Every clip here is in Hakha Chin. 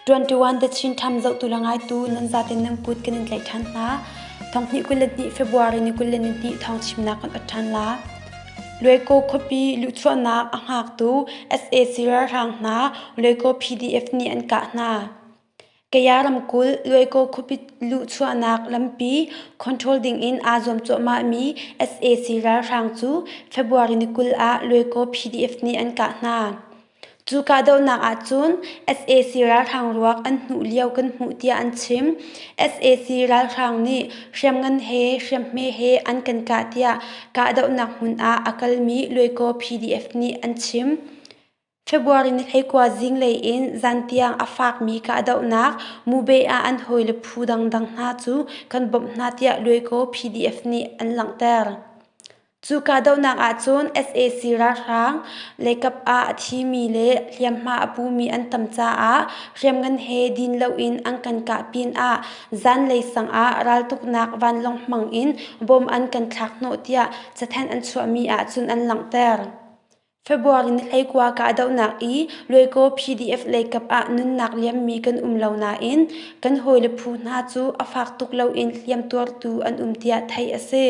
21 The Chin Times zohtu le ngaitu nan zaten nan put kan in tlaih ṭhan hna. Thonghnih kul le hnih February ni kul le ni hnih thawng chimnak kan oat ṭhan la. Luaiko khuapi luhchuahnak a hngaktu sac ralhrang hna Luaiko PDF nih an kah hna. kaya ramkulh luaiko khupit luhchuahnak lampi control dingin aa zuam cuahmahmi sac ralhrang cu february ni kul ah luaiko pdf nih an kah hna cu kahdohnak ahcun sac ralhrang ruak an hnuh lio kan hmuh tiah an chim sac ralhrang nih hriamngan he hriamhme he an kan kah tiah kahdohnak hmun ah a kalmi luaiko pdf nih an chim February ni hleikua zinglei in zan tiang a fakmi ka dohnak Mube ah an hawile phu dangdang hna cu kan bawmh hna tiah luaikaw PDF nih an langhter. Cu kahdohnak ahcun sac ralhrang leikap ah a thimi le hliamhma a pumi an tam caah hriamngan he din loin an kan kah pinah zanlei sangah raltuknak vanlawng hmang in bom an kan thlak hnawh tiah cathanh an chuahmi ahcun an langhter. February ni hleikua ka dohnak i Luaikaw PDF leikap ah nunnak liammi kan um lo nain kan hawile phu hna cu a fak tuk loin hliamtuartu an um tiah theih a si.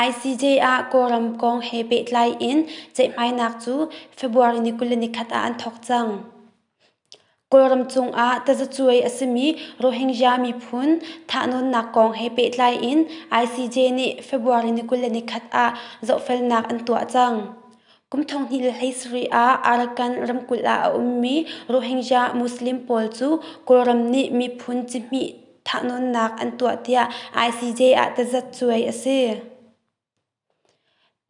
ICJ ah Kawlram kong he pehtlai in ceihmainak cu February ni kul le ni khat ah an thawk cang. Kawlram cungah tazacuai a simi Rohingya miphun thahnawnnak kong he pehtlai in ICJ nih February ni kul le ni khat ah zohfelnak an tuah cang. Kum thonghnih le hleisarih ah Arakan ramkulh ah a ummi Rohingya Muslim pawl cu Kawlram nih miphun cihmih thahnawnnak an tuah tiah ICJ ah tazacuai a si.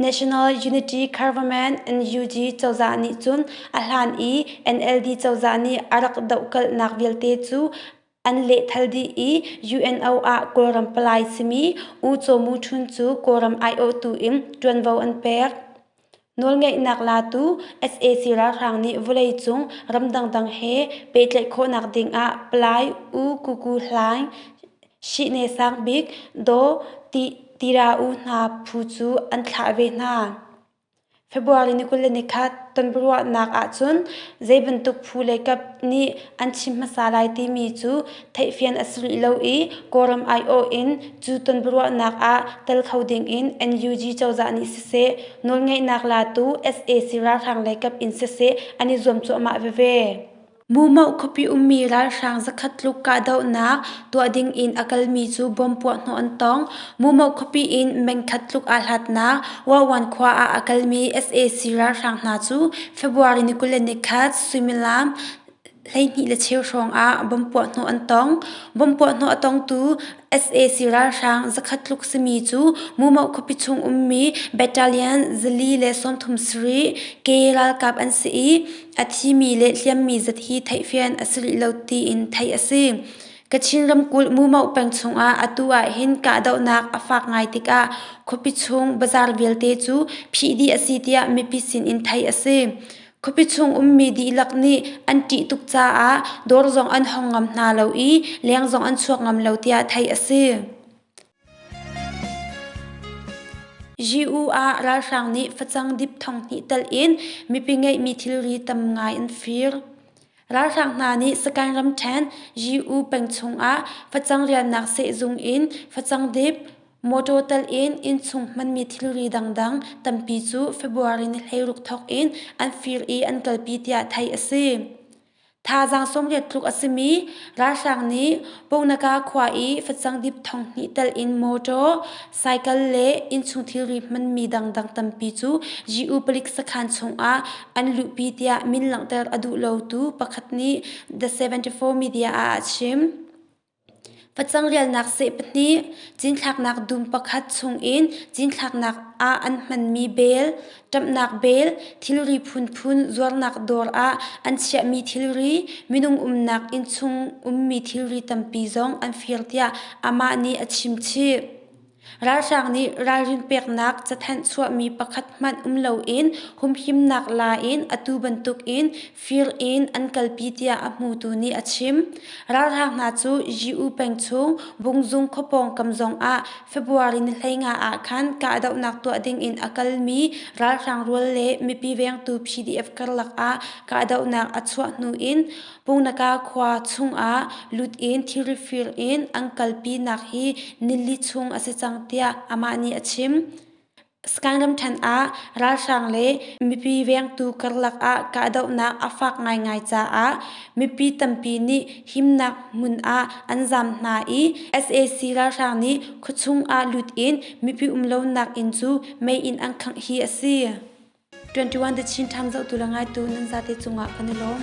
National Unity Government NUG cozah nih cun a hlan i NLD cozah nih a rak dohkalhnak vialte cu an lehthal dih i UNO ah Kawlram palai simi U Caw Mu Htun cu Kawlram aiawhtu in ṭuanvo an pek. Nawlngeihnak latu sac ralhrang nih vawleicung ram dangdang he pehtlaih khawhnak dingah Palai U Kuku Hlaing, Shihne Sang Bik, Daw Tirauu hna phu cu an thlah ve hna. February ni kul le ni khat tonbiaruahnak ahcun zeibantuk phu le kap nih an chim hmasa lai timi cu theihfian a sulh lo i Kawlram aiawh in cu tonbiaruahnak ah tel kho dingin NUG cozah nih siseh nawlngeihnak latu sac ralhrang lei kap in siseh an i zuam cuahmah veve. Mumoh khuapi ummi ralhrang zakhat tluk kahdohnak tuah dingin a kalmi cu bom puahhnawh an tong. Mumoh khuapi in mengkhat tluk aa hlatnak Wawan khua ah a kalmi sac ralhrang hna cu February ni kul le ni khat suimilam Hleihnih le cheu hrawngah bomb puahhnawh an tong. Bomb puahhnawh a tongtu sac ralhrang zakhat tluk simi cu Mumoh khuapi chung ummi battalion zali le sawmthum sarih ke ralkap an si i a thimi le hliammi zat hi theihfian a si rih lo tiin theih a si. Kachin ramkulh Mumoh peng chungah atu ahhin kahdohnak a fak ngai tikah khuapi chung bazar vialte cu phih dih a si tiah mipi sinin theih a si. Khuapi chung ummi dihlak nih an ṭih tuk caah dawr zong an hong ngam hna lo i leng zong an chuak ngam lo tiah theih a si. Gyu ah ralhrang nih facang dip thong hnih telh in mipi ngeihmi thilri tam ngai an fir. Ralhrang hna nih Sakaing ramṭhen Gyu peng chung ah facang rialnak sehzung in facang dip, Mawṭaw telh in innchung hmanmi thilri dangdang tampi cu February ni hleiruk thawk in an fir i an kalpi tiah theih a si. Thazaang sawmriat tluk a simi ralhrang nih Poknaka khua i facang dip thong hnih telh in mawṭaw, cycle le innchung thilri hmanmi dangdang tampi cu yi-u palik sakhan chungah an luhpi tiah min langhter a duh lotu pakhat nih The74 media ah a chim. Facang-rialnak seh pahnih, cinthlaknak dum pakhat chungin cinthlaknak ah an hmanmi bel, ṭamhnak bel, thilri phunphun zuarnak dawr ah an chiahmi thilri, minung umnak inn chung ummi thilri tampi zong an fir tiah amah nih a chimchih. Ralhrang nih ralrin peknak cathanh chuahmi pakhat hmanh um loin humhimnak la in atu bantukin fir in an kalpi tiah a hmutu nih a chim. Ralhrang hna cu Ji-u peng chung Bungzung khua pawngkam zongah February ni hleinga ah khan kahdohnak tuah dingin a kalmi ralhrang rual le mipi vengtu PDF karlak ah kahdohnak a chuah hnu in Punakha khua chungah lut in thil fir in an kalpinak hi nili chung a si cang tiah amah nih a chim. Sagaing ramṭhen ah ralhrang le mipi vengtu karlak ah kahdohnak a fak ngaingai caah mipi tampi nih himnak hmun ah an zaam hna i sac ralhrang nih khuachung ah lut in mipi um lonak inn cu mei in an khangh hi a si. 21 The Chin Times zohtu le ngaitu nan zate cungah kan i lawm.